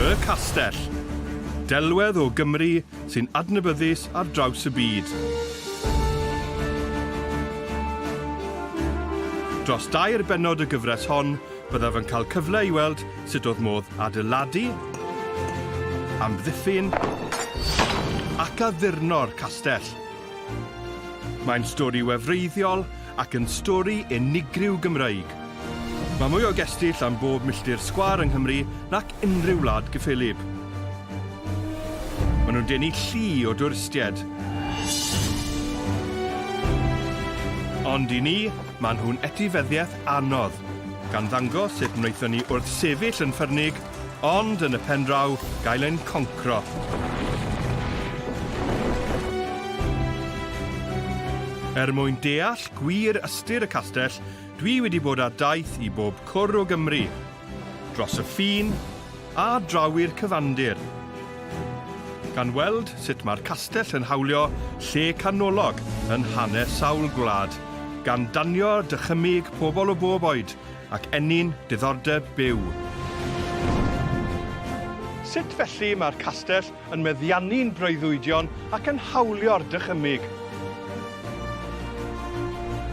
Y Castell. Delwedd o Gymru sy'n adnabyddus ar draws y byd. Dros dair bennod y gyfres hon, Byddaf yn cael cyfle i weld sut oedd modd adeiladu, amddiffyn ac addurno'r castell. Mae'n stori wefreiddiol ac yn stori unigryw Gymreig. Mae mwy o gestyll am bob milltir sgwâr yng Nghymru nac unrhyw wlad gyffelyb. Maen nhw'n denu llu o dwristiaid. Ond i ni, maen nhw'n etifeddiaeth anodd, gan ddangos sut wnaethon ni wrthsefyll yn ffyrnig, ond yn y pen draw, gael ein concro. Er mwyn deall gwir ystyr y castell, dwi wedi bod ar daith i bob cwr o Gymru, Dros y ffin, a draw i'r cyfandir. Gan weld sut mae'r castell yn hawlio lle canolog yn hanes sawl gwlad, gan danio dychymyg pobl o bob oed ac ennyn diddordeb byw. Sut felly mae'r castell yn meddiannu'n breuddwydion ac yn hawlio'r dychymyg.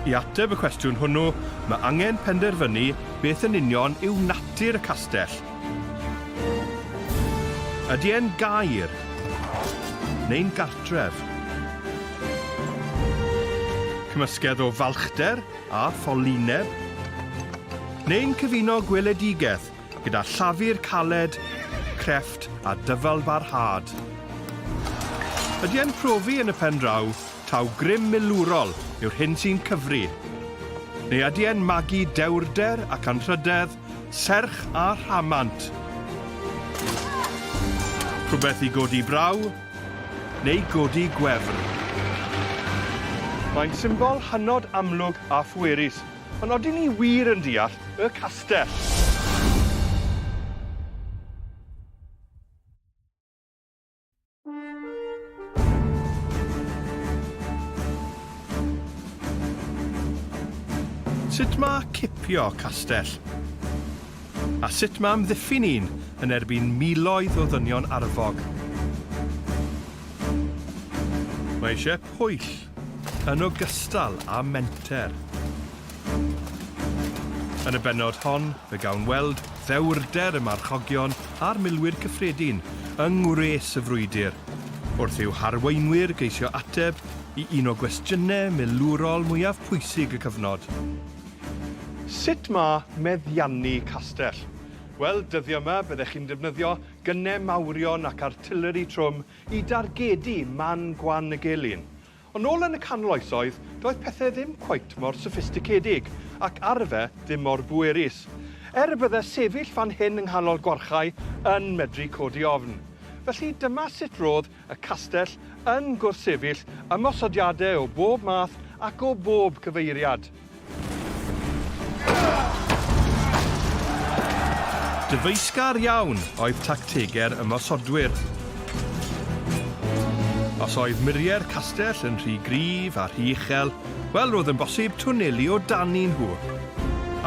I ateb y cwestiwn hwnnw, mae angen penderfynu beth yn union yw natur y castell. Ydy e'n gaer? Neu'n gartref? Cymysgedd o falchder a ffolineb? Neu'n cyfuno gweledigaeth Gyda llafur caled, crefft a dyfalbarhad. Ydy e'n profi yn y pen draw taw grym milwrol yw'r hyn sy'n cyfri? Neu ydy e'n magu dewrder ac anrhydedd, serch a rhamant? Rhywbeth i godi braw neu godi gwefr? Mae'n symbol hynod amlwg a phwerus Ond odyn ni wir yn deall y castell? Sut ma cipio castell? A sut ma amddiffyn un yn erbyn miloedd o ddynion arfog? Mae eisiau pwyll. yn ogystal â menter. Yn y bennod hon, fe gawn weld ddewrder y marchogion a'r milwyr cyffredin yng ngwres y frwydr, wrth i'w harweinwyr geisio ateb i un o gwestiynau milwrol mwyaf pwysig y cyfnod. Sut mae meddiannu castell? Wel, dyddiau yma, byddech chi'n defnyddio gynnau mawrion ac artileri trwm i dargedu man gwan y gelyn. Ond nôl yn y canol oesoedd, doedd pethe ddim cweit mor soffisticedig, ac arfe ddim mor bwerus. Er y bydde sefyll fan hyn yng nghanol gwarchae yn medru codi ofn. Felly dyma sut rodd y castell yn gwrthsefyll ymosodiade o bob math ac o bob cyfeiriad. Dyfeisgar iawn oedd tactegau'r ymosodwyr. Os oedd muriau'r castell yn rhy gryf a rhy uchel, wel roedd yn bosib twnelu o dani nhw.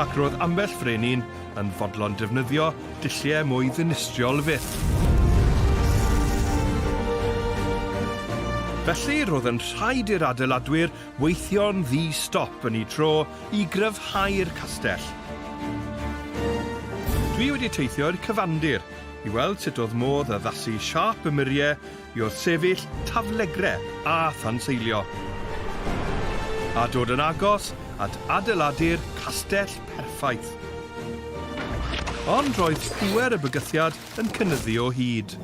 Ac roedd ambell frenin yn fodlon defnyddio dulliau mwy ddinistriol fyth. Felly roedd yn rhaid i'r adeiladwyr Weithio'n ddi-stop yn eu tro i gryfhau'r castell. Dwi wedi teithio i'r cyfandir i weld sut oedd modd addasu siâp y murie i wrthsefyll taflegre a thanseilio, a dod yn agos at adeiladu'r castell perffaith. Ond roedd pŵer y bygythiad yn cynyddu o hyd.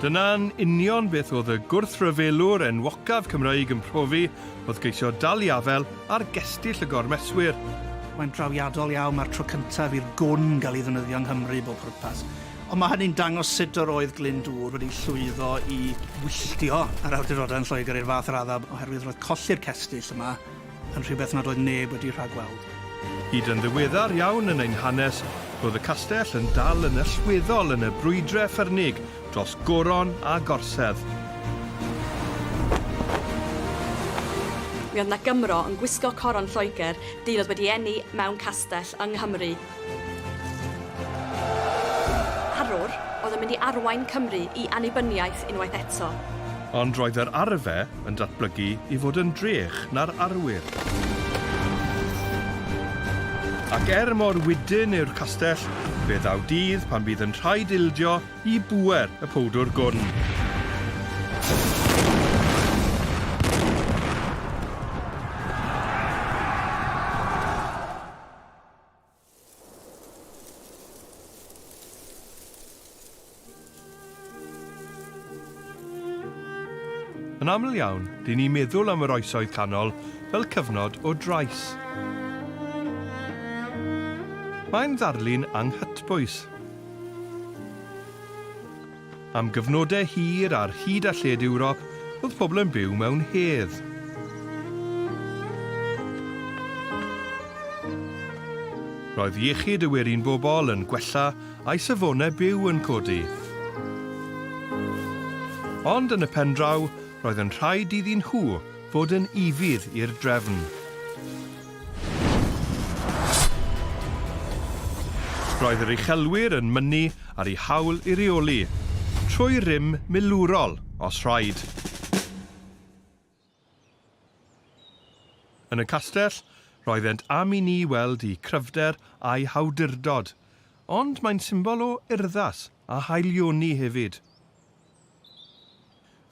Dyna'n union beth oedd y gwrthryfelwr enwocaf Cymreig yn profi, oedd geisio dal i afel ar gestyll y gormeswyr. Mae'n drawiadol iawn, mae'r tro cyntaf i'r gwn gael ei ddefnyddio yng Nghymru i bob pwrpas. Ond mae hynny'n dangos sut yr oedd Glyndŵr wedi llwyddo i wylltio yr awdurdodau yn Lloegr i'r fath raddau oherwydd roedd colli'r cestyll yma yn rhywbeth nad oedd neb wedi rhagweld. Hyd yn ddiweddar iawn yn ein hanes, roedd y castell yn dal yn allweddol yn y brwydrau ffyrnig dros goron a gorsedd. Mi oedd 'na Gymro yn gwisgo coron Lloegr dyn oedd wedi eni mewn castell yng Nghymru. Arwr oedd yn mynd i arwain Cymru i annibyniaeth unwaith eto. Ond roedd yr arfe yn datblygu i fod yn drech na'r arwyr. Ac er mor wydn yw'r castell, fe ddaw dydd pan fydd yn rhaid ildio i bŵer y powdwr gwn. Yn aml iawn, dyn ni'n meddwl am yr oesoedd canol fel cyfnod o drais. Mae'n ddarlun anghytbwys. Am gyfnodau hir ar hyd a lled Ewrop oedd pobl yn byw mewn hedd. Roedd iechyd y werin bobl yn gwella a'i safonau byw yn codi. Ond yn y pen draw roedd yn rhaid iddyn nhw fod yn ufudd i'r drefn. Roedd yr uchelwyr yn mynnu ar eu hawl i reoli, trwy rym milwrol os rhaid. Yn y castell, roeddent am i ni weld eu cryfder a'u hawdurdod, ond mae'n symbol o urddas a haelioni hefyd.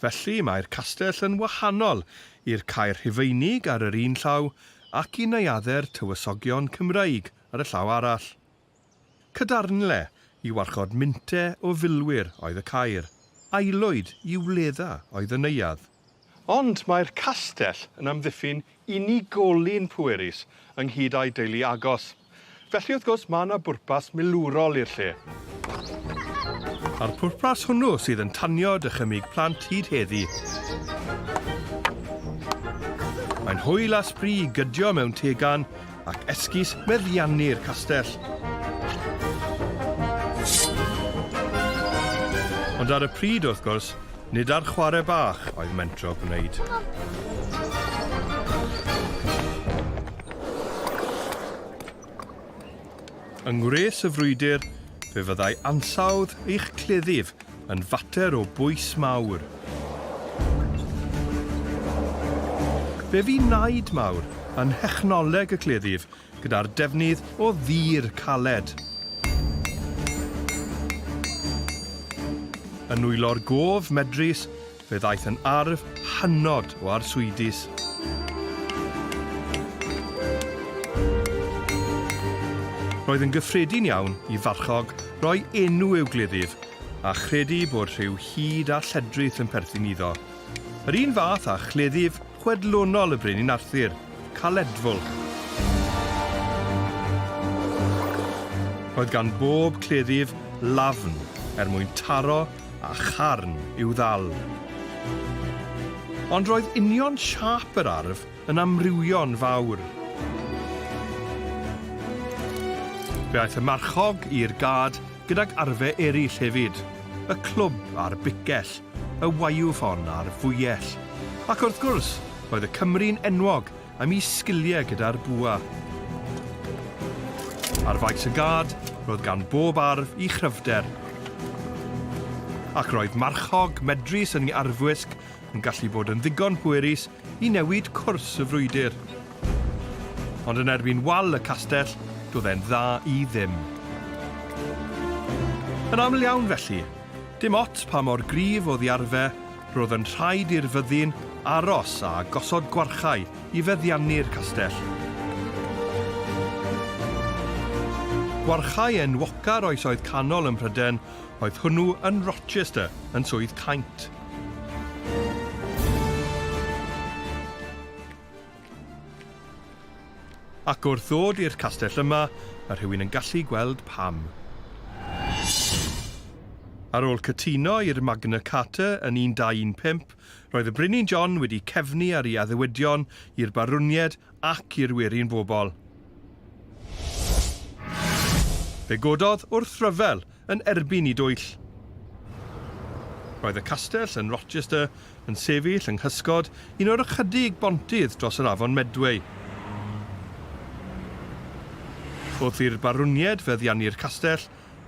Felly, mae'r castell yn wahanol i'r Caer Rhufeinig ar yr un llaw ac i neuaddau'r tywysogion Cymreig ar y llaw arall. Cadarnle i warchod mynte o filwyr oedd y caer, aelwyd i wledda oedd y neuadd. Ond mae'r castell yn amddiffyn unigolyn pwerus ynghyd â'i deulu agos. Felly wrth gwrs mae yna bwrpas milwrol i'r lle. A'r pwrpas hwnnw sydd yn tanio dychymyg plant hyd heddi. Mae'n hwyl a sbri i gydio mewn tegan ac esgus meddiannu'r castell. Ond ar y pryd, wrth gwrs, nid ar chwarae bach oedd mentro gwneud. Yng ngwres y frwydr, fe fyddai ansawdd eich cleddyf yn fater o bwys mawr. Fe fu naid mawr yn nhechnoleg y cleddyf gyda'r defnydd o ddur caled. Yn nwylo'r gof medrus, Fe ddaeth yn arf hynod o arswydus. Roedd yn gyffredin iawn i farchog roi enw i'w gleddyf, a chredu bod rhyw hud a lledrith yn perthyn iddo. Yr un fath â chleddyf chwedlonol y Brenin Arthur, Caledfwlch. Roedd gan bob cleddyf lafn er mwyn taro a charn i'w ddal. Ond roedd union siâp yr arf yn amrywio'n fawr. Fe aeth y marchog i'r gad gydag arfe eraill hefyd, y clwb a'r bicell, y waiwffon a'r fwyell, ac wrth gwrs, roedd y Cymry'n enwog am i sgiliau gyda'r bwa. Ar faes y gad, roedd gan bob arf i chryfder, ac roedd marchog medrus yn ei arfwisg yn gallu bod yn ddigon pwerus i newid cwrs y frwydr. Ond yn erbyn wal y castell, doedd e'n dda i ddim. Yn aml iawn felly, dim ots pa mor gryf oedd arfe, roedd yn rhaid i'r fyddin aros a gosod gwarchau i feddiannu'r castell. Gwarchau enwoca'r oesoedd canol ym Mhryden Oedd hwnnw yn Rochester yn Swydd Caint. Ac wrth ddod i'r castell yma, mae rhywun yn gallu gweld pam. Ar ôl cytuno i'r Magna Carta yn 1215, roedd y Brenin John wedi cefnu ar ei addewidion i'r barwniaid ac i'r werin bobl. Fe gododd wrth ryfel yn erbyn y dwyll. Roedd y castell yn Rochester yn sefyll yng nghysgod un o'r ychydig bontydd dros yr afon Medway. Wrth i'r barwniaid feddiannu'r castell,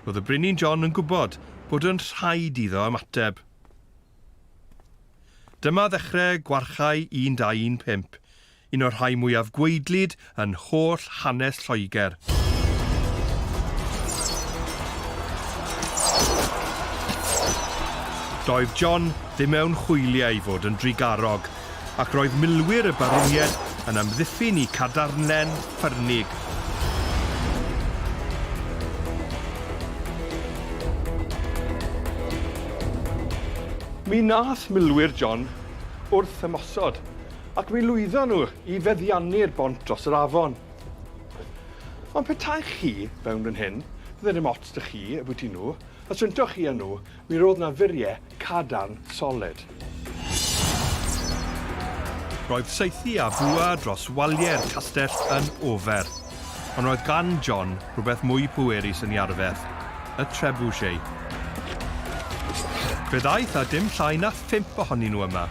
roedd y Brenin John yn gwybod bod yn rhaid iddo ymateb. Dyma ddechrau gwarchae 1215, Un o'r rhai mwyaf gwaedlyd yn holl hanes Lloegr. Doedd John ddim mewn hwyliau i fod yn drugarog, ac roedd milwyr y Barwniaid yn amddiffyn i cadarnlen ffyrnig. Mi wnaeth milwyr John wrth ymosod, Ac mi lwyddon nhw i feddiannu'r bont dros yr afon. Ond petaech chi fewn fan hyn, fydde dim ots da chi ambwyty nhw, os untoch chi â nhw, mi roedd na furiau cadarn soled. Roedd saethu a bwa dros waliau'r castell yn ofer, ond roedd gan John rhywbeth mwy pwerus yn ei arfer, y trebuchet. Fe ddaeth â dim llai na phump ohonyn nhw yma.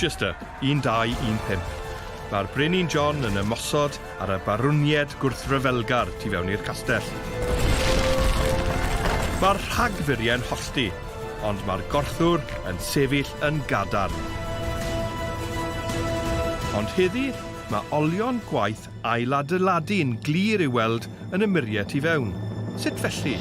Rochester 1215. Mae'r Brenin John yn ymosod ar y barwniaid gwrthryfelgar tu fewn i'r castell. Mae'r rhagfurie'n hollti, ond mae'r gorthwr yn sefyll yn gadarn. Ond heddi, mae olion gwaith ailadeiladu'n glir i'w weld yn y muriau tu fewn. Sut felly?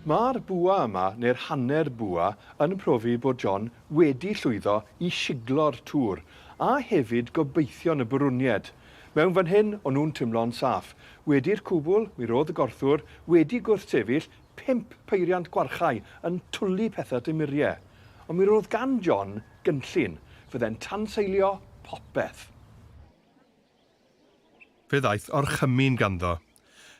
Mae'r bwa yma, neu'r hanner bwa, yn profi bod John wedi llwyddo i shiglo'r Tour a hefyd gobeithion y Bwrwniaid. Mewn fan hyn, o'n nhw'n timlo'n saff. Wedi'r cwbl, mi ro'dd y gorthwr wedi gwrthsefyll pump peiriant gwarchai yn twli petha tu murie. Ond mi ro'dd gan John gynllun. Fydde'n tanseilio popeth. Fe ddaeth orchymyn ganddo.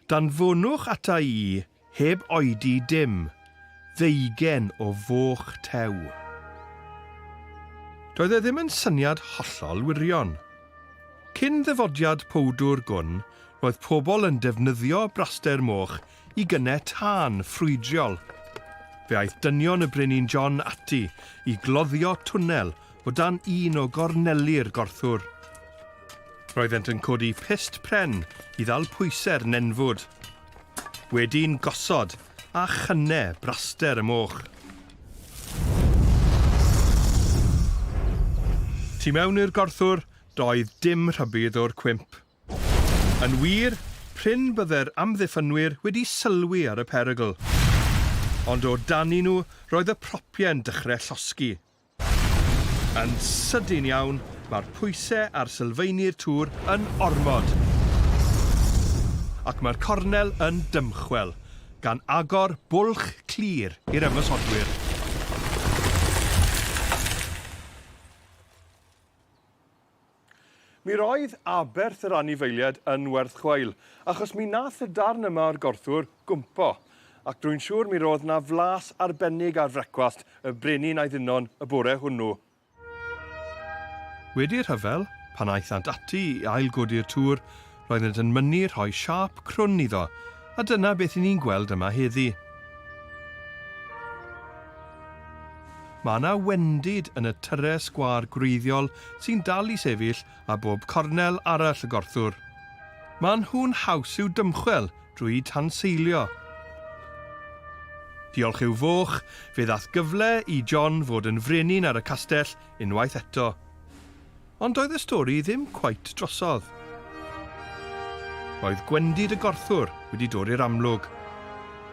Danfonwch ata i heb oedi dim, ddeugen o foch tew. Doedd e ddim yn syniad hollol wirion. Cyn ddyfodiad powdwr gwn, roedd pobl yn defnyddio braster moch i gynnau tân ffrwydriol. Fe aeth dynion y Brenin John ati i gloddio twnnel o dan un o gorneli'r gorthwr. Roeddent yn codi pyst pren i ddal pwysau'r nenfwd. Wedi'n gosod a chynnau braster y moch. Tu mewn i'r gorthwr doedd dim rhybudd o'r cwymp. Yn wir, prin bydde'r amddiffynwyr wedi sylwi ar y perygl. Ond o dani nhw roedd y propie'n dychre llosgi. Yn sydyn iawn, mae'r pwyse ar sylfaenu'r tŵr yn ormod. Ac mae'r cornel yn dymchwel, gan agor bwlch clir i'r ymosodwyr. Mi roedd aberth yr anifeiliad yn werth chweil, achos mi nath y darn yma o'r gorthwr gwmpo, ac drwy'n siŵr mi ro'dd 'na flas arbennig ar frecwast y brenin a'i ddinon y bore hwnnw. Wedi'r rhyfel, pan aethant ati i ail-godi'r tŵr, roeddent yn mynnu rhoi siâp crwn iddo, a dyna beth i ni'n gweld yma heddi. Mae yna wendid yn y tyrre sgwâr gwreiddiol sy'n dal i sefyll a bob cornel arall y gorthwr. Maen nhw'n haws i'w dymchwel drwy tanseilio. Diolch i'w foch, fe ddath gyfle i John fod yn frenin ar y castell unwaith eto. Ond doedd y stori ddim cweit drosodd. Roedd gwendid y gorthwr wedi dod i'r amlwg,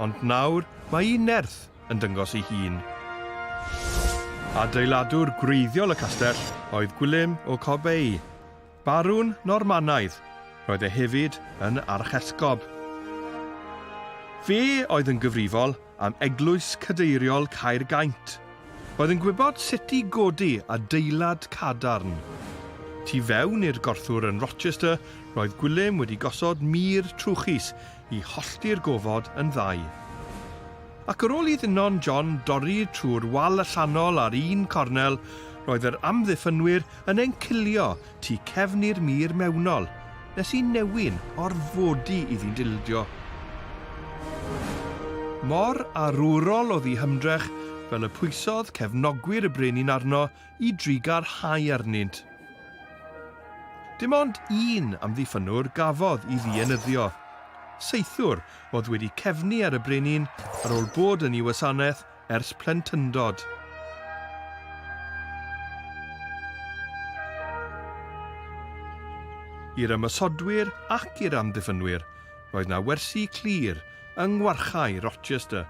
ond nawr mae un nerth yn dyngos ei hun. Adeiladwr gwreiddiol y castell oedd Gwilym o Corbey, barwn Normanaidd, roedd e hefyd yn archesgob. Fe oedd yn gyfrifol am Eglwys Cadeiriol Caergaint, oedd yn gwybod sut i godi adeilad cadarn. Tu fewn i'r gorthwr yn Rochester roedd Gwilym wedi gosod mur trwchus i hollti'r gofod yn ddau. Ac ar ôl i Ddynon John dorri trwy'r wal allanol ar un cornel, roedd yr amddiffynwyr yn encilio Tu cefn i'r mur mewnol, nes i newyn orfodi iddi'n dildio. Mor arwrol oedd ei hymdrech, fel y pwysodd cefnogwyr y brenin arno i drugarhau arnynt. Dim ond un amddiffynnwr gafodd i ddienyddio. Saethwr oedd wedi cefnu ar y brenin ar ôl bod yn ei wasanaeth ers plentyndod. I'r ymosodwyr ac i'r amddiffynwyr, roedd 'na wersi clir yng ngwarchae Rochester.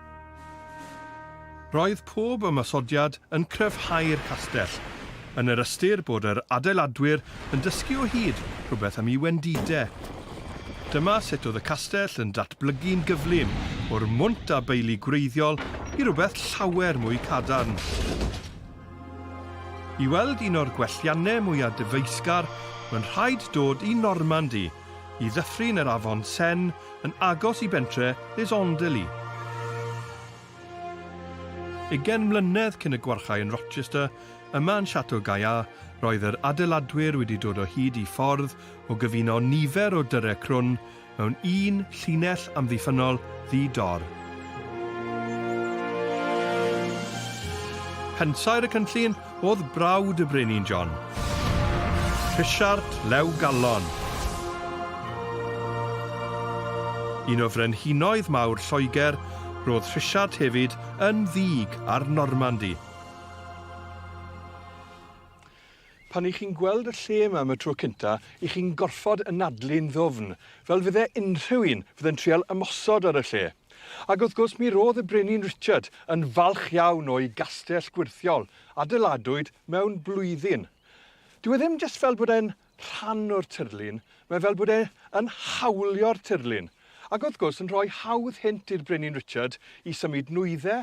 Roedd pob ymosodiad yn cryfhau'r castell, yn yr ystyr bod yr adeiladwyr yn dysgu o hyd rhywbeth am ei wendide. Dyma sut oedd y castell yn datblygu'n gyflym, o'r mwnt a beili gwreiddiol i rywbeth llawer mwy cadarn. I weld un o'r gwelliannau mwyaf dyfeisgar, mae'n rhaid dod i Normandy, i ddyffryn yr afon Seine yn agos i bentre Les Andelys. Ugain mlynedd cyn y gwarchae yn Rochester, yma yn Chateau Gaillard, roedd yr adeiladwyr wedi dod o hyd i ffordd o gyfuno nifer o dyrrau crwn mewn un llinell amddiffynnol ddi-dor. Pensaer y cynllun Oedd brawd y Brenin John, Rhisiart Lew Gallon, un o frenhinoedd mawr Lloegr, roedd Rhisiart hefyd yn ddig ar Normandi. Pan y'ch chi'n gweld y lle yma am y tro cynta, y'ch chi'n gorfod anadlu'n ddwfn, fel fydde unrhyw un fydde'n trial ymosod ar y lle. Ac wrth gwrs mi ro'dd y Brenin Richard yn falch iawn o'i gastell gwyrthiol, adeiladwyd mewn blwyddyn. Dyw e ddim jyst fel bod e'n rhan o'r tirlun, mae fel bod e yn hawlio'r tirlun, ac wrth gwrs yn rhoi hawdd hynt i'r Brenin Richard i symud nwydde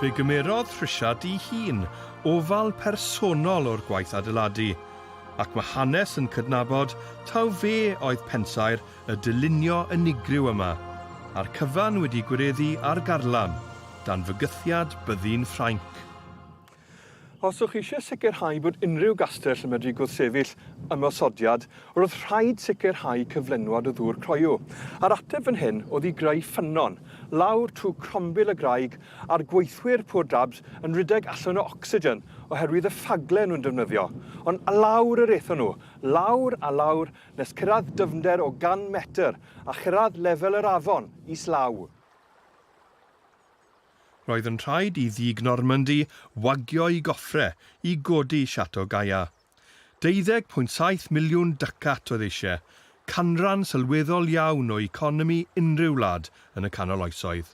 Fe gymerodd Trisha dŷ hun, ofal personol o'r gwaith adeiladu, ac mae hanes yn cydnabod taw fe oedd pensaer y dylunio unigryw yma, a'r cyfan wedi gwireddu ar garlam, dan fygythiad byddin Ffrainc. Os ydych eisiau sicrhau bod unrhyw gastell yn medru gwrthsefyll ymosodiad, roedd rhaid sicrhau cyflenwad o ddŵr croyw. A'r ateb fan hyn oedd i greu ffynnon, lawr trwy crombil y graig, a'r gweithwyr Poor Dabs yn rhedeg allan o ocsigen oherwydd y ffagle nhw'n defnyddio. Ond lawr yr aethon nhw, lawr a lawr nes cyrraedd dyfnder o 100 metr a chyrraedd lefel yr afon islaw. Roedd yn rhaid i ddig Normandy wagio'i goffre i godi Chateau Gaillard. Deuddeg pwynt saith miliwn ducat oedd eisie, canran sylweddol iawn o economi unrhyw wlad yn y canol oesoedd.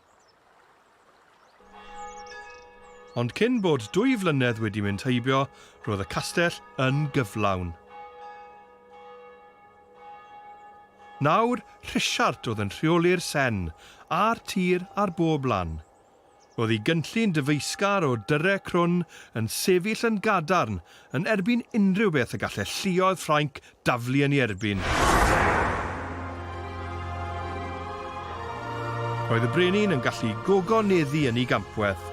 Ond cyn bod dwy flynedd wedi mynd heibio, roedd y castell yn gyflawn. Nawr, Rhisiart oedd yn rheoli'r sen a'r tir ar bob lan. Roedd ei gynllun dyfeisgar o dyrre crwn yn sefyll yn gadarn yn erbyn unrhyw beth y gallai lluoedd Ffrainc daflu yn ei erbyn. Roedd y brenin yn gallu gogoneddu yn ei gampwaith.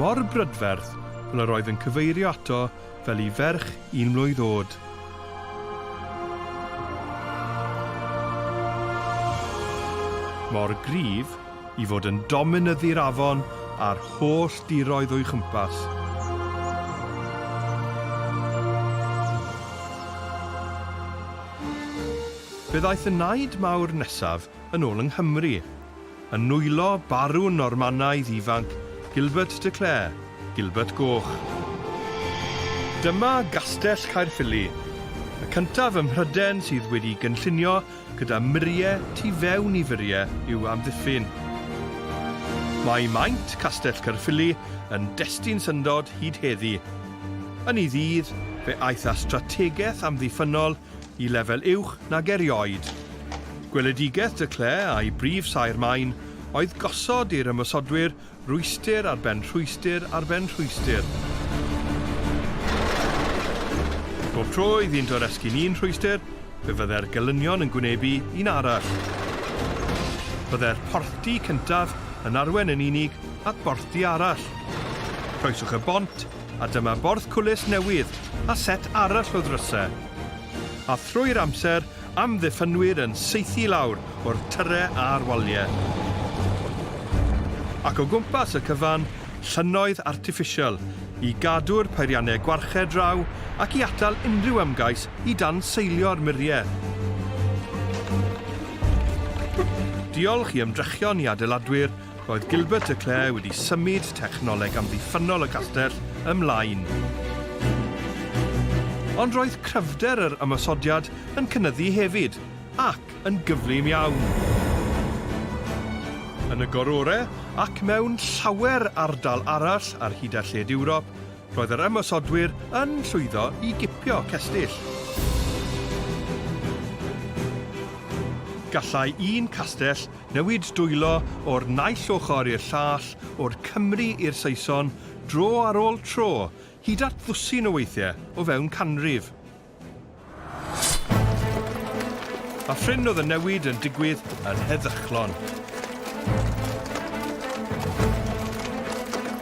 Mor brydferth fel yr oedd yn cyfeirio ato fel i ferch un mlwydd oed. Mor gryf i fod yn dominyddu'r afon a'r holl diroedd o'i chwmpas. Fe ddaeth y Naid Mawr nesaf yn ôl yng Nghymru, yn nwylo barwn Normanaidd ifanc Gilbert de Clare, Gilbert Goch. Dyma Gastell Caerffili, y cyntaf ym Mhryden sydd wedi'i gynllunio gyda murie tu fewn i furie i'w amddiffyn. Mae maint Castell Caerffili yn destun syndod hyd heddi. Yn ei ddydd, fe aeth â strategaeth amddiffynnol i lefel uwch nag erioed. Gweledigaeth De Clare a'i brif saer maen oedd gosod i'r ymosodwyr rwystr ar ben rhwystr ar ben rhwystr. Bob tro iddynt oresgyn un rhwystr, fe fyddai'r gelynion yn gwynebu un arall. Byddai'r porthdy cyntaf yn arwain yn unig at borthdy arall. Croeswch y bont A dyma borth cwlys newydd a set arall o ddrysau. A thrwy'r amser, amddiffynwyr yn saethu lawr o'r tyrre a'r walie. Ac o gwmpas y cyfan, llynnoedd artiffisial, i gadw'r peiriannau gwarchedd draw ac i atal unrhyw ymgais i danseilio'r muriau. Diolch i ymdrechion i adeiladwyr Roedd Gilbert a Claire wedi symud technoleg amddiffynnol y castell ymlaen. Ond roedd cryfder yr ymosodiad yn cynyddu hefyd, ac yn gyflym iawn. Yn y gorore, ac mewn llawer ardal arall ar hyd a lled Ewrop, roedd yr ymosodwyr yn llwyddo i gipio cestyll. Gallai un castell Newid dwylo o'r naill ochr i'r llall, o'r Cymry i'r Saeson, dro ar ôl tro, hyd at ddwsin o weithiau, o fewn canrif. A phryn oedd y newid yn digwydd yn heddychlon.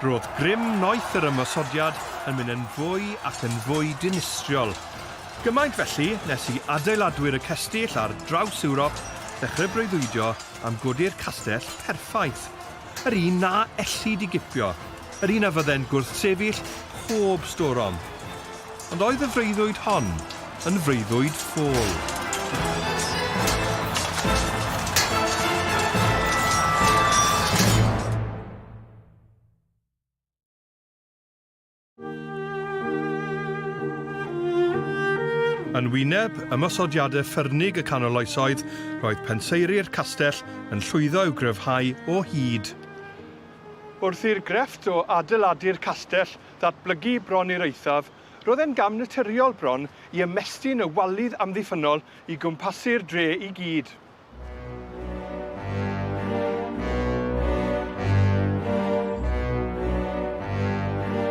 Roedd grym noeth yr ymosodiad yn mynd yn fwy ac yn fwy dinistriol. Gymaint felly nes i adeiladwyr y cestyll ar draws Ewrop ddechrau breuddwydio am godi'r castell perffaith, yr un na ellid i gipio, yr un a fydde'n gwrthsefyll pob storom. Ond oedd y freuddwyd hon yn freuddwyd ffôl? Yn wyneb ymosodiadau ffyrnig y canol oesoedd, roedd penseiri'r castell yn llwyddo i'w gryfhau o hyd. Wrth i'r grefft o adeiladu'r castell ddatblygu bron i'r eithaf, roedd e'n gam naturiol bron i ymestyn y walydd amddiffynnol i gwmpasu'r dre i gyd.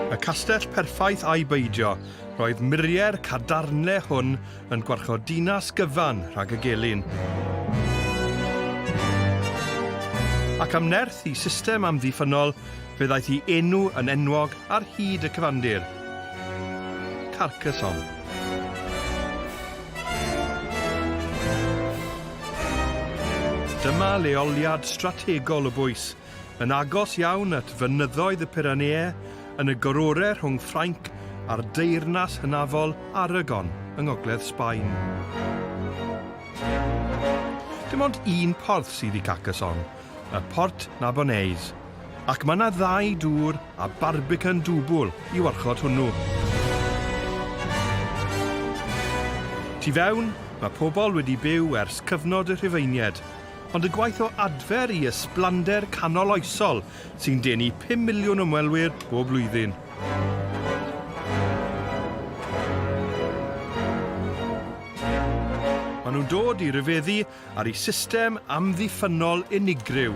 Y castell perffaith ai beidio, roedd muriau'r cadarnle hwn yn gwarchod dinas gyfan rhag y gelyn. Ac am nerth i system amddiffynol, fe ddaeth i enw yn enwog ar hyd y cyfandir, Carcassonne. Dyma leoliad strategol y bwys, yn agos iawn at fynyddoedd y Pyreneau, yn y gororau rhwng Ffrainc a'r deyrnas hynafol Aragon yng ngogledd Sbaen. Dim ond un porth sydd i Carcassonne, y Port Narbonnaise. Ac mae yna ddau dŵr a barbican dwbl i warchod hwnnw. Tu fewn, mae pobl wedi byw ers cyfnod y Rhufeinied, ond y gwaith o adfer i ysblander canoloesol sy'n denu pum miliwn ymwelwyr bob blwyddyn. Maen nhw'n dod i ryfeddu ar ei system amddiffynnol unigryw.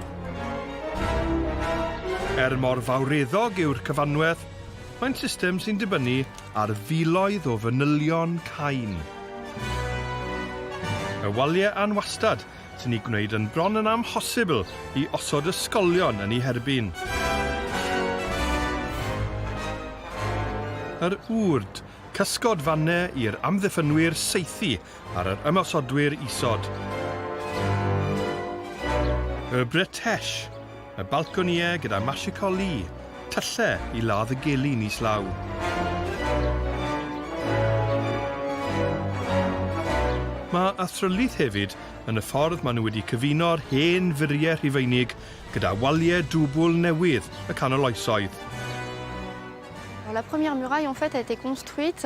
Er mor fawreddog yw'r cyfanwedd, mae'n system sy'n dibynnu ar filoedd o fanylion cain. Y waliau anwastad sy'n ei gwneud yn bron yn amhosibl i osod ysgolion yn ei herbyn. Yr wrd, cysgod fannau i'r amddiffynwyr saethu ar yr ymosodwyr isod. Y Britesh, y balconïau gyda Mashiko Lee, tyllau i ladd y gelyn islaw. Mae athrylith hefyd yn y ffordd maen nhw wedi cyfuno'r hen furiau Rhufeinig gyda waliau dwbl newydd y Canol Oesoedd. La première muraille en fait a été construite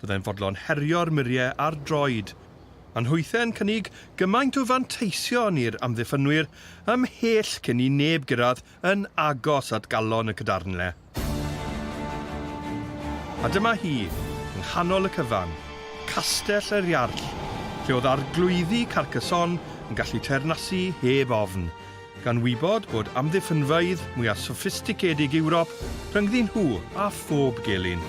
Byddai'n fodlon herio'r muriau ar droed. Maen nhwythe'n cynnig gymaint o fanteision i'r amddiffynwyr ymhell cyn i neb gyrraedd yn agos at galon y cadarnle. A dyma hi, yng nghanol y cyfan, Castell yr Iarll, lle oedd Arglwyddi Carcassonne yn gallu teyrnasu heb ofn. Gan wybod bod amddiffynfeydd mwya soffisticedig Ewrop rhyngddyn nhw a phob gelyn.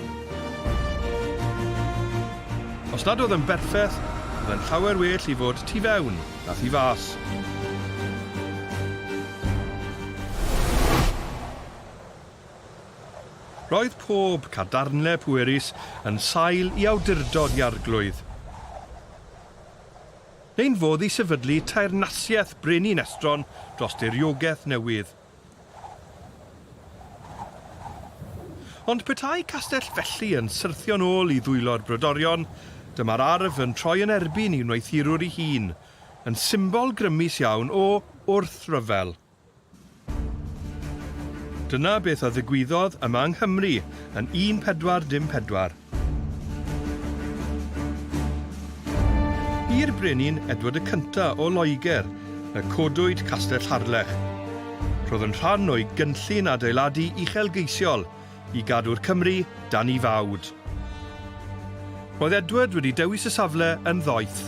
Os nad oedd yn berffeth, oedd yn llawer well i fod tu fewn na thu fas. Roedd pob cadarnle pwerus yn sail i awdurdod i arglwydd. Ein fodd i sefydlu teyrnasiaeth brenin estron dros diriogaeth newydd. Ond petai castell felly yn syrthio'n ôl i ddwylo'r brodorion, dyma'r arf yn troi yn erbyn ei wneuthurwr ei hun, yn symbol grymus iawn o wrthryfel. Dyna beth a ddigwyddodd yma yng Nghymru yn 1414. I'r brenin Edward y Cynta' o Loegr y codwyd Castell Harlech. Roedd yn rhan o'i gynllun adeiladu uchelgeisiol i gadw'r Cymry dan 'i fawd. Roedd Edward wedi dewis y safle yn ddoeth.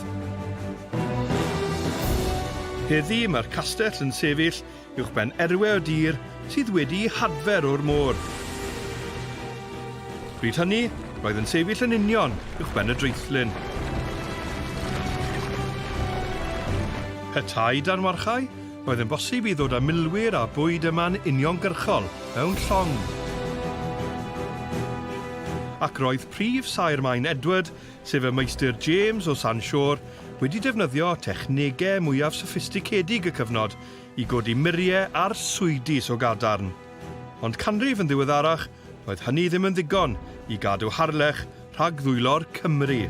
Heddi mae'r castell yn sefyll uwchben erwe o dir sydd wedi'i hadfer o'r môr. Bryd hynny, roedd yn sefyll yn union uwchben y draethlin. Petai dan warchae, Roedd yn bosib i ddod â milwyr a bwyd yma'n uniongyrchol, mewn llong. Ac roedd prif saer Maen Edward, sef y Meistr James o San Siôr, wedi defnyddio technegau mwyaf soffisticedig y cyfnod i godi muriau arswydus o gadarn. Ond canrif yn ddiweddarach, doedd hynny ddim yn ddigon i gadw Harlech rhag ddwylo'r Cymry.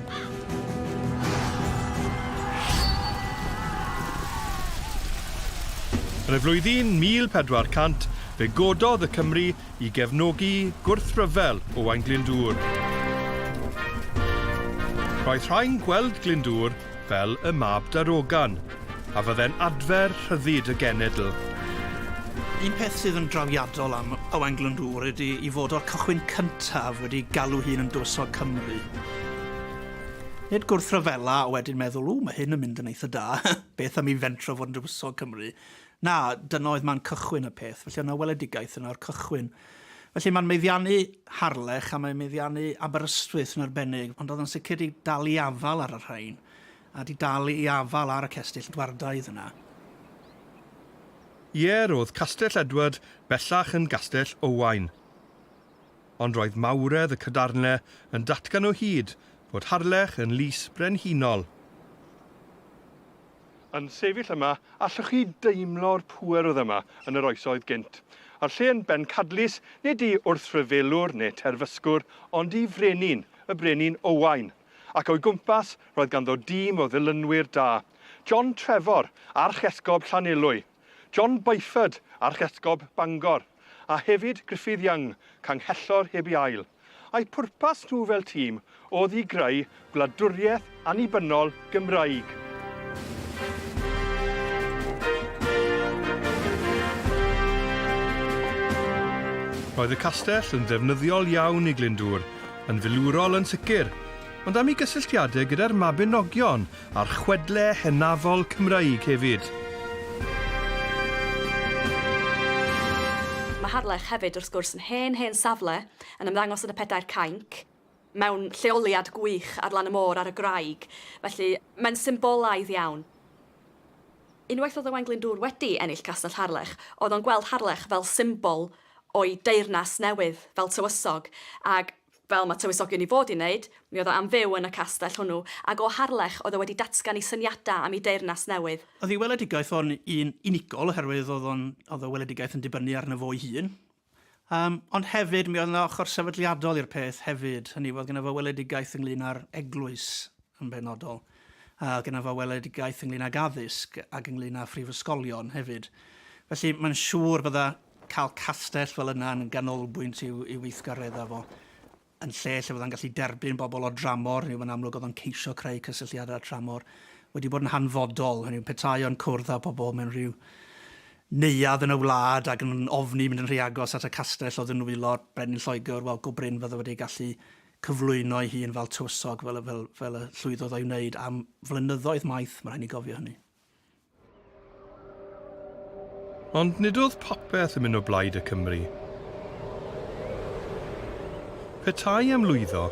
Yn y flwyddyn 1400, fe gododd y Cymry i gefnogi gwrthryfel Owain Glyndŵr. Roedd rhai'n gweld Glyndŵr fel y mab darogan, a fydde'n adfer rhyddid y genedl. Un peth sydd yn drawiadol am Owain Glyndŵr ydy i fod o'r cychwyn cyntaf wedi galw hun yn dywysog Cymru. Nid gwrthryfela a wedyn meddwl, ww, mae hyn yn mynd yn eitha da, beth am i fentro fod yn dywysog Cymru? Na, dyna oedd man cychwyn y peth, felly oedd yna weledigaeth yna o'r cychwyn. Felly mae'n meddiannu Harlech a mae'n meddiannu Aberystwyth yn arbennig, ond oedd o'n sicr 'di dal i afal ar y rhain, a 'di dal i afal ar y cestyll dwardaidd yna. Ie, roedd Castell Edward bellach yn Gastell Owain. Ond roedd mawredd y cadarnle yn datgan o hyd fod Harlech yn lys brenhinol. Yn sefyll yma, allwch chi deimlo'r pŵer oedd yma yn yr oesoedd gynt. A'r lle yn bencadlys, nid i wrthryfelwr neu terfysgwr, ond i frenin, y Brenin Owain. Ac o'i gwmpas, roedd ganddo dîm o ddilynwyr da. John Trefor, arch-esgob Llanelwy. John Byford, Archesgob Bangor, a hefyd Gruffydd Young, Canghellor heb ei ail, a'u pwrpas nhw fel tîm oedd i greu gwladwriaeth annibynnol Gymraeg. Roedd y castell yn ddefnyddiol iawn i Glyndŵr, yn filwrol yn sicr, ond am ei gysylltiadau gyda'r Mabinogion A'r chwedle hynafol Cymraeg hefyd. Mae Harlech hefyd wrth gwrs yn hen, hen safle, yn ymddangos yn y Pedair Cainc, mewn lleoliad gwych ar lan y môr ar y graig, felly mae'n symbolaidd iawn. Unwaith oedd Owain Glyndŵr wedi ennill Castell Harlech, oedd o'n gweld Harlech fel symbol o'i deyrnas newydd, fel tywysog, ac fel mae tywysogion i fod i wneud, mi oedd o am fyw yn y castell hwnnw, ac o Harlech oedd o wedi datgan ei syniadau am ei deyrnas newydd. Oedd ei weledigaeth o'n un unigol oherwydd oedd o'n, oedd y weledigaeth yn dibynnu arno fo'i hun, yym, ond hefyd mi oedd 'na ochr sefydliadol i'r peth hefyd, hynny yw oedd gynno fo weledigaeth ynglyn â'r eglwys yn benodol, a oedd gynno fo weledigaeth ynglyn ag addysg ac ynglyn â phrifysgolion hefyd. Felly mae'n siŵr bydda cael castell fel yna yn ganolbwynt i'w, i'w weithgareddau fo, yn lle lle fydda'n gallu derbyn bobl o dramor, neu mae'n amlwg oedd o'n ceisio creu cysylltiadau â tramor, wedi bod yn hanfodol, hynny yw petai o'n cwrdd â pobl mewn rhyw neuad yn y wlad ac yn ofni mynd yn rhy agos at y castell oedd yn nwylo'r brenin Lloegr, wel go brin fydde wedi gallu cyflwyno ei hun fel tywysog fel, fel, fel y llwyddodd o'i wneud am flynyddoedd maith, mae'n rhaid ni gofio hynny. Ond nid oedd popeth yn mynd o blaid y Cymry. Petai am lwyddo,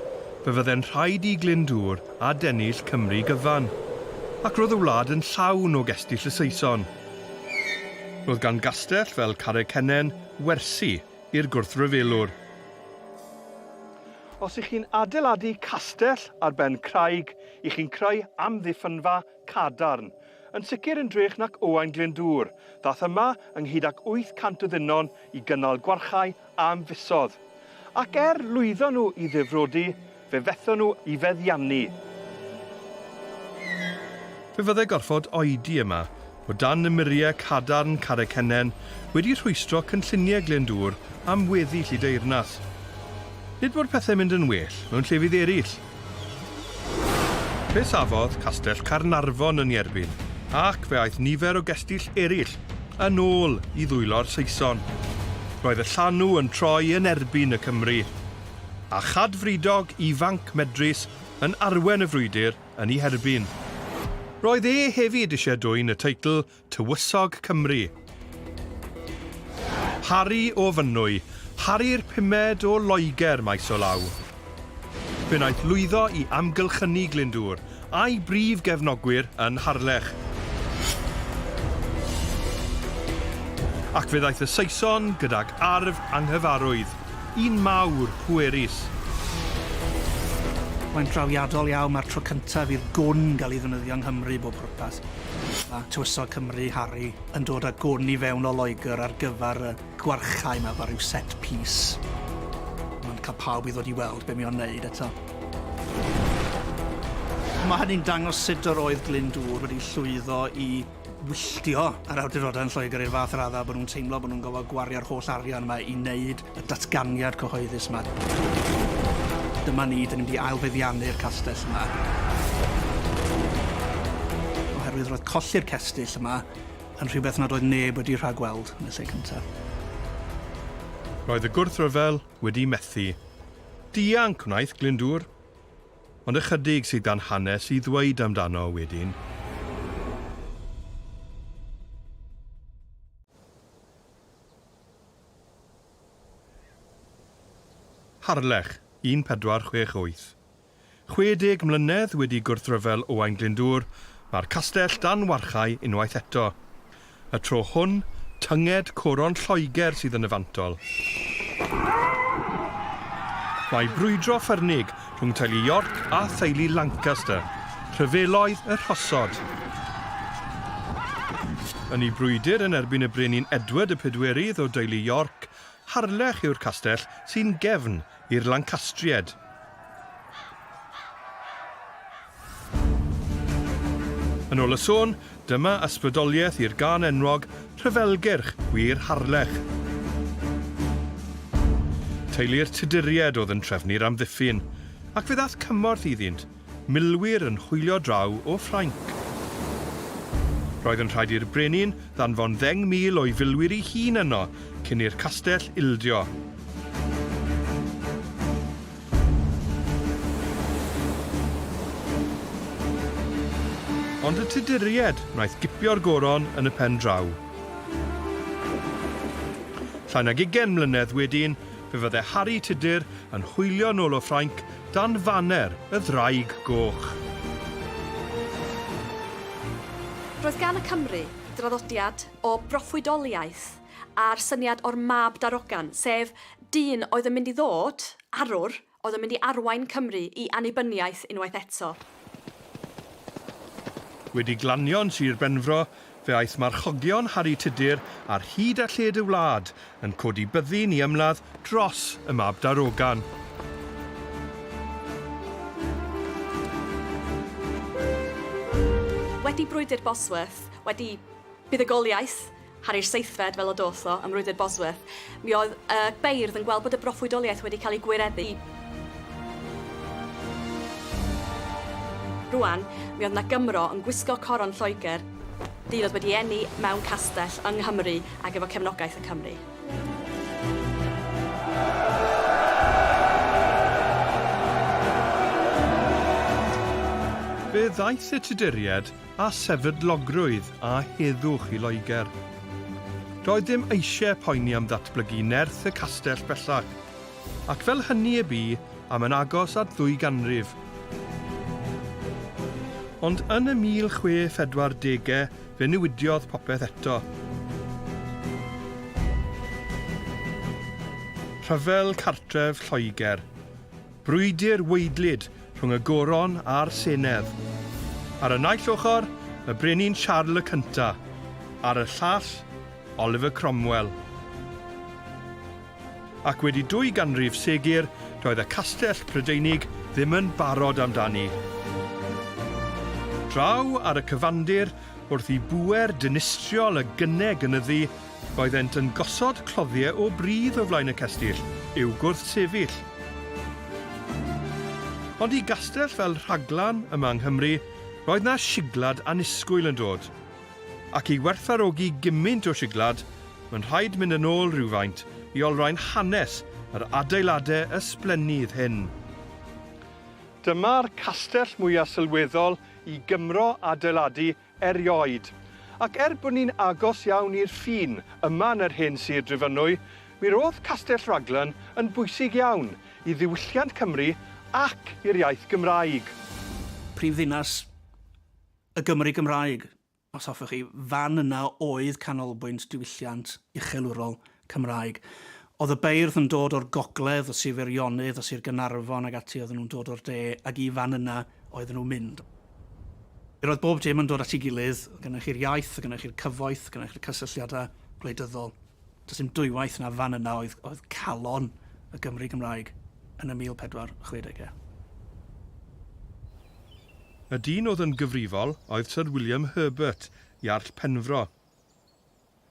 fe fydde'n rhaid i Glyndŵr adennill Cymru gyfan, ac roedd y wlad yn llawn o gestyll y Saeson. Roedd gan gastell fel Carreg Cennen wersi i'r gwrthryfelwr. Os 'y chi'n adeiladu castell ar ben craig, 'y chi'n creu amddiffynfa cadarn. Yn sicr yn drech nac Owain Glyndŵr, ddath yma ynghyd ac 800 o ddynon i gynnal gwarchae am fisodd. Ac er lwyddo nhw i ddifrodi, fe fethon nhw i feddiannu. Fe fydde gorfod oedi yma, o dan y muriau cadarn Carreg Cennen, wedi rhwystro cynlluniau Glyndŵr am weddi Lludeyrnas. Nid bod pethau'n mynd yn well mewn llefydd eraill. Fe safodd Castell Caernarfon yn ei erbyn ac fe aeth nifer o gestyll eraill yn ôl i ddwylo'r Saeson. Roedd y llanw yn troi yn erbyn y Cymry, a chad Fridog ifanc medrus yn arwen y frwydr yn ei herbyn. Roedd e hefyd eisiau dwyn y teitl tywysog Cymru. Harri o Fynwy, Harri'r pumed o Loegr maes o law. Fe wnaeth lwyddo i amgylchynu Glyndŵr, a'i brif gefnogwyr yn Harlech. Ac fe ddaeth y Saeson gydag arf anghyfarwydd, un mawr pwerus. Mae'n drawiadol iawn, mae'r tro cyntaf i'r gwn gael ei ddefnyddio yng Nghymru i bob pwrpas. Mae Tywysog Cymru, Harry, yn dod â gwn i fewn o Loegr ar gyfer y gwarchae 'ma efo rhyw set piece. Mae'n cael pawb i ddod i weld be mae o'n wneud eto. Mae hynny'n dangos sut yr oedd Glyndŵr wedi llwyddo i wylltio yr awdurdodau yn Lloegr i'r fath raddau bod nhw'n teimlo bod nhw'n gorfod gwario'r holl arian 'ma i wneud Y datganiad cyhoeddus 'ma. Dyma ni, 'dan ni'n mynd i ail-feddiannu'r castell yma. Oherwydd roedd colli'r cestyll yma yn rhywbeth nad oedd neb wedi rhagweld yn y lle cyntaf. Roedd y gwrthryfel wedi methu. Dianc wnaeth Glyndŵr. Ond ychydig sydd gan hanes i ddweud amdano wedyn. Harlech, 1468. 60 mlynedd wedi gwrthryfel Owain Glyndŵr, mae'r castell dan warchae unwaith eto. Y tro hwn, tynged coron Lloegr sydd yn y fantol. Mae brwydro ffyrnig rhwng teulu York a theulu Lancaster, rhyfeloedd y rhosod. Yn ei brwydr yn erbyn y Brenin Edward y Pedwerydd o deulu York, Harlech yw'r castell sy'n gefn i'r Lancastriaid. Yn ôl y sôn, dyma ysbrydoliaeth i'r gân enwog, Rhyfelgyrch, wir Harlech. Teulu'r Tuduried oedd yn trefnu'r amddiffyn, ac fe ddaeth cymorth iddynt, milwyr yn hwylio draw o Ffrainc. Roedd yn rhaid i'r brenin ddanfon ddeng mil o'i filwyr ei hun yno cyn i'r castell ildio. Ond y Tuduriaid wnaeth gipio'r goron yn y pen draw. Llai nag ugain mlynedd wedyn, fe fydde Harri Tudur yn hwylio nôl o Ffrainc dan faner y Ddraig Goch. Roedd gan y Cymry draddodiad o broffwydoliaeth. a'r syniad o'r mab darogan, sef dyn oedd yn mynd i ddod, arwr, oedd yn mynd i arwain Cymru i annibyniaeth unwaith eto. Wedi glanio yn Sir Benfro, fe aeth marchogion Harri Tudur ar hyd a lled y wlad yn codi byddin i ymladd dros y mab darogan. Wedi brwydr Bosworth, wedi buddugoliaeth, Harri'r seithfed fel y doth o ym mrwydr Bosworth. Mi oedd y beirdd yn gweld bod y broffwydoliaeth wedi cael ei gwireddu. Rŵan, mi oedd 'na Gymro yn gwisgo coron Lloegr, dyn oedd wedi eni mewn castell yng Nghymru ac efo cefnogaeth y Cymry. Fe ddaeth y Tuduriaid a sefydlogrwydd a heddwch i Loegr. Doedd dim eisiau poeni am ddatblygu nerth y castell bellach, ac fel hynny y bu am yn agos at ddwy ganrif. Ond yn y 1040au fe newidiodd popeth eto. Rhyfel cartref Lloegr. Brwydr weidlyd rhwng y Goron a'r Senedd. Ar y naill ochr, y Brenin Siarl y Cynta', ar y llall, Oliver Cromwell. Ac wedi dwy ganrif segur, doedd y castell Prydeinig ddim yn barod amdani. Draw ar y cyfandir, wrth i bŵer dinistriol y gyne gynyddu, Roeddent yn gosod cloddiau o bridd o flaen y cestyll i'w gwrthsefyll. Ond i gastell fel Rhaglan yma yng Nghymru, roedd 'na siglad annisgwyl yn dod. Ac i werthfawrogi gymint o siglad, mae'n rhaid mynd yn ôl rywfaint i olrhain hanes yr adeiladau ysblennydd hyn. Dyma'r castell mwyaf sylweddol i Gymro adeiladu erioed. Ac er bod ni'n agos iawn i'r ffin yma yn yr hen Sir Drefynwy, mi ro'dd Castell Raglan yn bwysig iawn i ddiwylliant Cymru ac i'r iaith Gymraeg. Prif ddinas y Gymru Gymraeg, os hoffech chi. Fan yna oedd canolbwynt diwylliant uchelwrol Cymraeg. Oedd y beirdd yn dod o'r gogledd, y Sir Feirionnydd, y Sir Gaernarfon ac ati oedden nhw'n dod o'r de ac i fan yna oedden nhw'n mynd. Yr oedd bob dim yn dod at ei gilydd, oedd gennych chi'r iaith, oedd gennych chi'r cyfoeth, oedd gennych chi'r cysylltiadau gwleidyddol. Does dim dwywaith na fan yna oedd oedd calon y Gymry Gymraeg yn y 1460au. Y dyn oedd yn gyfrifol oedd Syr William Herbert, Iarll Penfro.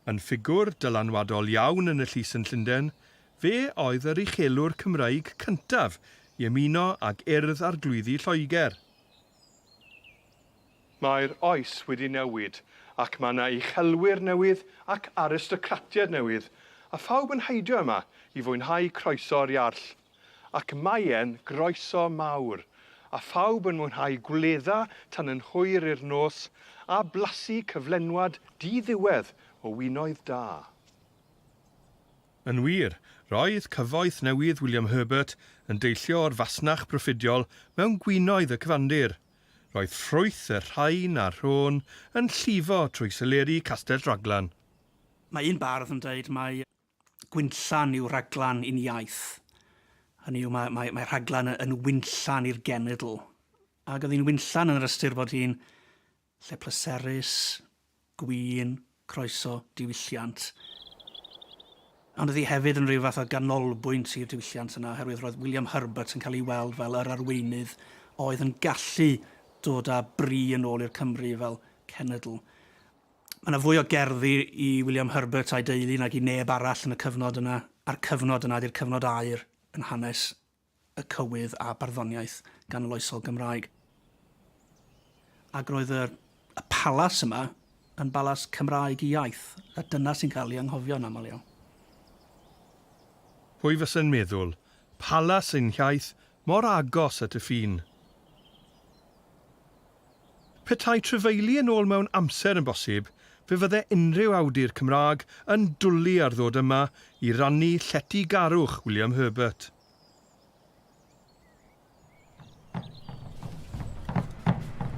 Yn ffigwr dylanwadol iawn yn y llys yn Llundain, fe oedd yr uchelwr Cymraeg cyntaf i ymuno ag Urdd Arglwyddi Lloegr. Mae'r oes wedi newid ac mae yna uchelwyr newydd ac aristocratiaid newydd, a phawb yn heidio yma i fwynhau croeso'r Iarll. ac maen groeso mawr, a phawb yn mwynhau gwledda tan yn hwyr i'r nos, a blasu cyflenwad di-ddiwedd o winoedd da. Yn wir, roedd cyfoeth newydd William Herbert yn deillio o'r fasnach broffidiol mewn gwinoedd y cyfandir. Roedd ffrwyth y rhain a'r rhôn yn llifo trwy seleri Castell Raglan. Mae un bardd yn dweud mai Gwinllan yw rhaglan uniaith. Hynny yw, mae, mae, mae rhaglan yn winllan i'r genedl. Ac oedd hi'n winllan yn yr ystyr bod hi'n lle pleserus, gwyn, croeso, diwylliant. Ond oedd hi hefyd yn rhyw fath o ganolbwynt i'r diwylliant yna, oherwydd roedd William Herbert yn cael ei weld fel yr arweinydd oedd yn gallu dod â bri yn ôl i'r Cymru fel cenedl. Mae yna fwy o gerddi i William Herbert a'i deulu nag i neb arall yn y cyfnod yna, a'r cyfnod yna ydy'r cyfnod aur yn hanes y cywydd a barddoniaeth ganoloesol Gymraeg. Ac roedd y, y palas yma yn balas Cymraeg i iaith, a dyna sy'n cael ei anghofio yn aml iawn. Pwy fysa'n meddwl, palas ein hiaith Mor agos at y ffin. Petai trefeili yn ôl mewn amser yn bosib, fe fydde unrhyw awdur Cymraeg yn dwli ar ddod yma i rannu lletygarwch William Herbert.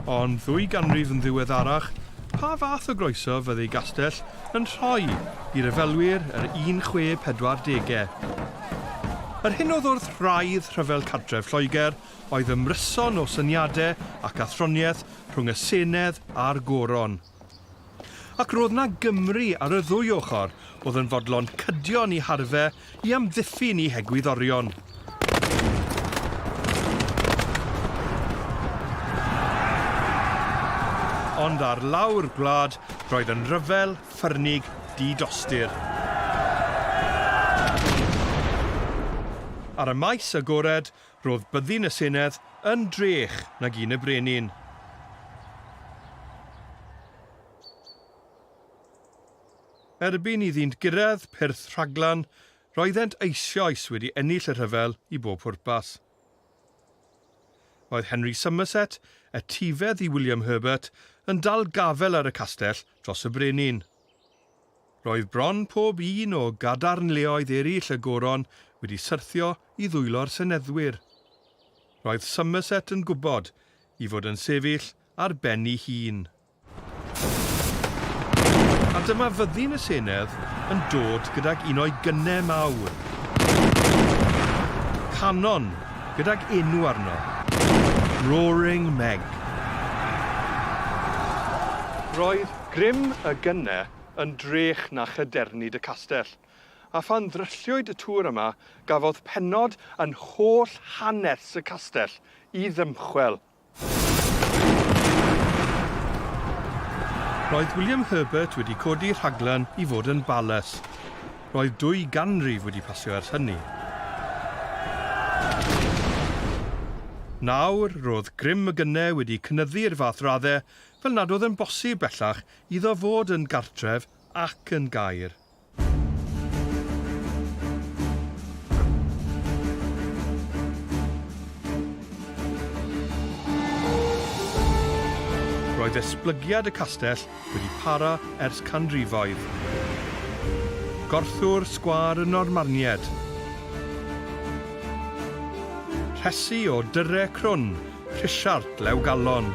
Ond ddwy ganrif yn ddiweddarach, pa fath o groeso fydde i gastell yn rhoi i ryfelwyr yr 1640au. Yr hyn oedd wrth wraidd rhyfel cartref Lloegr oedd ymryson o syniadau ac athroniaeth rhwng y Senedd a'r Goron. Ac roedd 'na Gymry ar y ddwy ochr oedd yn fodlon cydio yn 'u harfau I amddiffyn i hegwyddorion. Ond ar lawr gwlad, roedd yn ryfel, ffyrnig, di-dostyr. Ar y maes agored, roedd byddin y senedd yn drech nag un y brenin. Erbyn iddynt gyrraedd pyrth rhaglan, roeddent eisioes wedi ennill y rhyfel i bob pwrpas. Roedd Henry Somerset, etifedd i William Herbert, yn dal gafael ar y castell dros y brenin. Roedd bron pob un o gadarnleoedd eraill y goron wedi syrthio i ddwylo'r seneddwyr. Roedd Somerset yn gwybod i fod yn sefyll ar ben ei hun. A dyma fyddin y senedd yn dod gydag un o'i gynnau mawr. Canon, gydag enw arno. Roaring Meg. Roedd grym y gynnau yn drech na chadernid y castell, a phan ddrylliwyd y tŵr yma gafodd pennod yn holl hanes y castell i ddymchwel. Roedd William Herbert wedi codi rhaglen i fod yn Bales. Roedd dwy ganrif wedi pasio ers hynny. Nawr, roedd grym y gyne wedi cynyddu i'r fath raddau fel nad oedd yn bosib bellach iddo fod yn gartref ac yn gaer. Roedd esblygiad y castell wedi para ers canrifoedd. Gorthwr sgwâr y Normaniaid. Rhesi o dyrre crwn Rhisiart lew galon.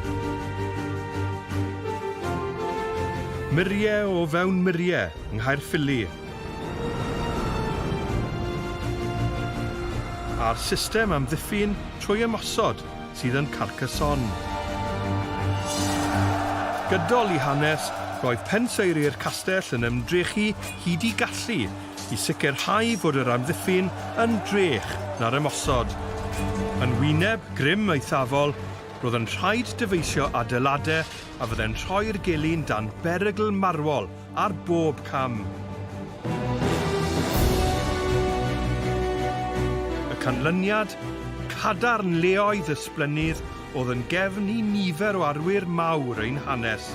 Murie o fewn murie, Nghaerffili. A'r system amddiffyn trwy ymosod sydd yn Carcassonne. Gydol i hanes, roedd penseiri'r castell yn ymdrechu hyd i gallu i sicrhau fod yr amddiffyn yn drech na'r ymosod. Yn wyneb grym eithafol, roedd yn rhaid dyfeisio adeiladau a fyddai'n rhoi'r gelyn dan berygl marwol ar bob cam. Y canlyniad? Cadarn leoedd ysblennydd oedd yn gefn i nifer o arwyr mawr ein hanes.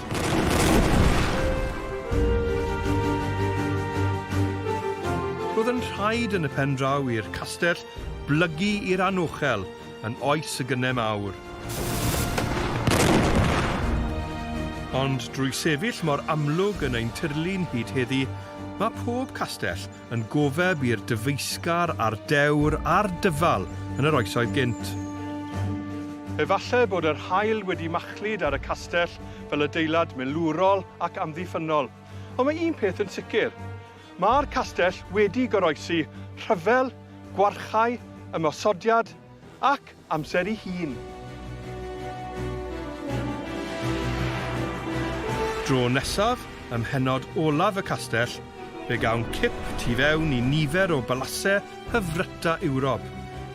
Roedd yn rhaid yn y pen draw i'r castell blygu i'r anochel yn oes y gynnau mawr. Ond drwy sefyll mor amlwg yn ein tirlun hyd heddi, mae pob castell yn gofeb i'r dyfeisgar a'r dewr a'r dyfal yn yr oesoedd gynt. Efalle bod yr haul wedi machlud ar y castell fel adeilad milwrol ac amddiffynnol, ond mae un peth yn sicr, mae'r castell wedi goroesi rhyfel, gwarchae, ymosodiad, Ac amser ei hun. Dro nesaf, ym mhennod olaf y Castell, fe gawn cip tu fewn i nifer o balasê hyfryta Ewrop,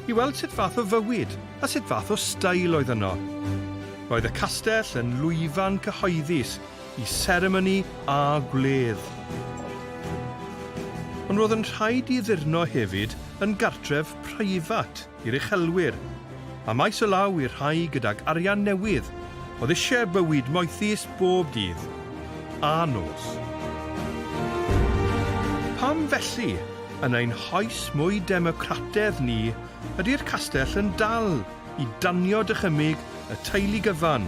i weld sut fath o fywyd a sut fath o stael oedd yno. Roedd y Castell yn lwyfan cyhoeddus i seremoni a gwledd. Ond roedd yn rhaid i Ddirno hefyd yn gartref preifat i'r uchelwyr, a maes o law i'r rhai gydag arian newydd oedd eisiau bywyd moethus bob dydd a nos. Pam felly, yn ein hoes mwy democratedd ni, ydy'r castell yn dal i danio dychymyg y teulu gyfan,